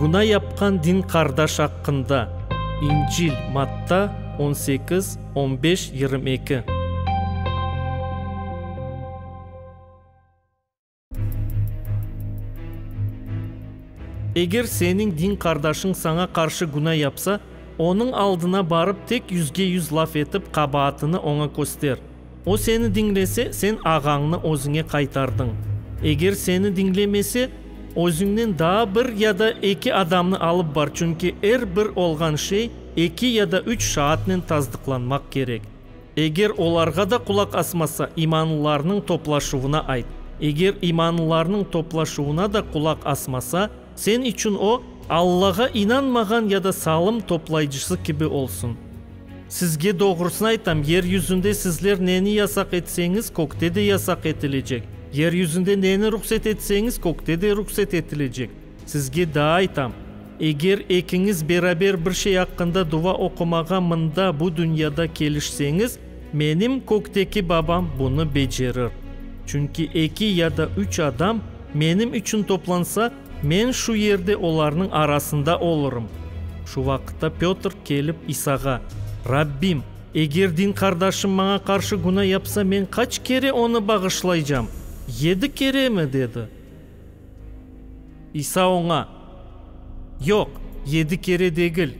Günâ yapqan din qardaş aqqında, İncil, Matta, on sekiz, on beş, yirmi eki. Eger seniñ din qardaşıñ saña qarşı günâ yapsa, onıñ aldına barıp tek yüzge-yüz laf etip qabaatını oña köster. O seni diñlese, sen ağañnı özüñe qaytardıñ. Eger seni diñlemese, özüñnen daa bir ya da eki adamnı alıp bar, çünki er bir olğan şey eki ya da üç şaatnen tasdıqlanmaq kerek. Eger olarğa da qulaq asmasa, imanlılarnıñ toplaşuvına ayt. Eger imanlılarnıñ toplaşuvına da qulaq asmasa, Sen içün o, Allağa inanmağan ya da salım toplayıcısı kibi olsun. Sizge doğrusını aytam, yer yüzünde sizler neni yasaq etseñiz, kökte de yasaq etilecek, yer yüzünde neni ruhset etseñiz, kökte de ruhset etilecek. Sizge daa aytam, eger ekiñiz beraber bir şey aqqında duva oqumağa mında, bu dünyada, kelişseñiz, Menim kökteki babam bunı becerir. Çünki eki ya da üç adam menim içün toplansa, men şu yerde olarnıñ arasında olurım. Şu vaqıtta Pötr kelip İsağa, Rabbim, eger din qardaşım maña qarşı günah yapsa, men qaç kere onı bağışlaycam? Yedi keremi? dedi. İsa oña, Yoq, yedi kere degil,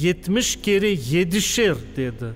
yetmiş kere yedişer, dedi.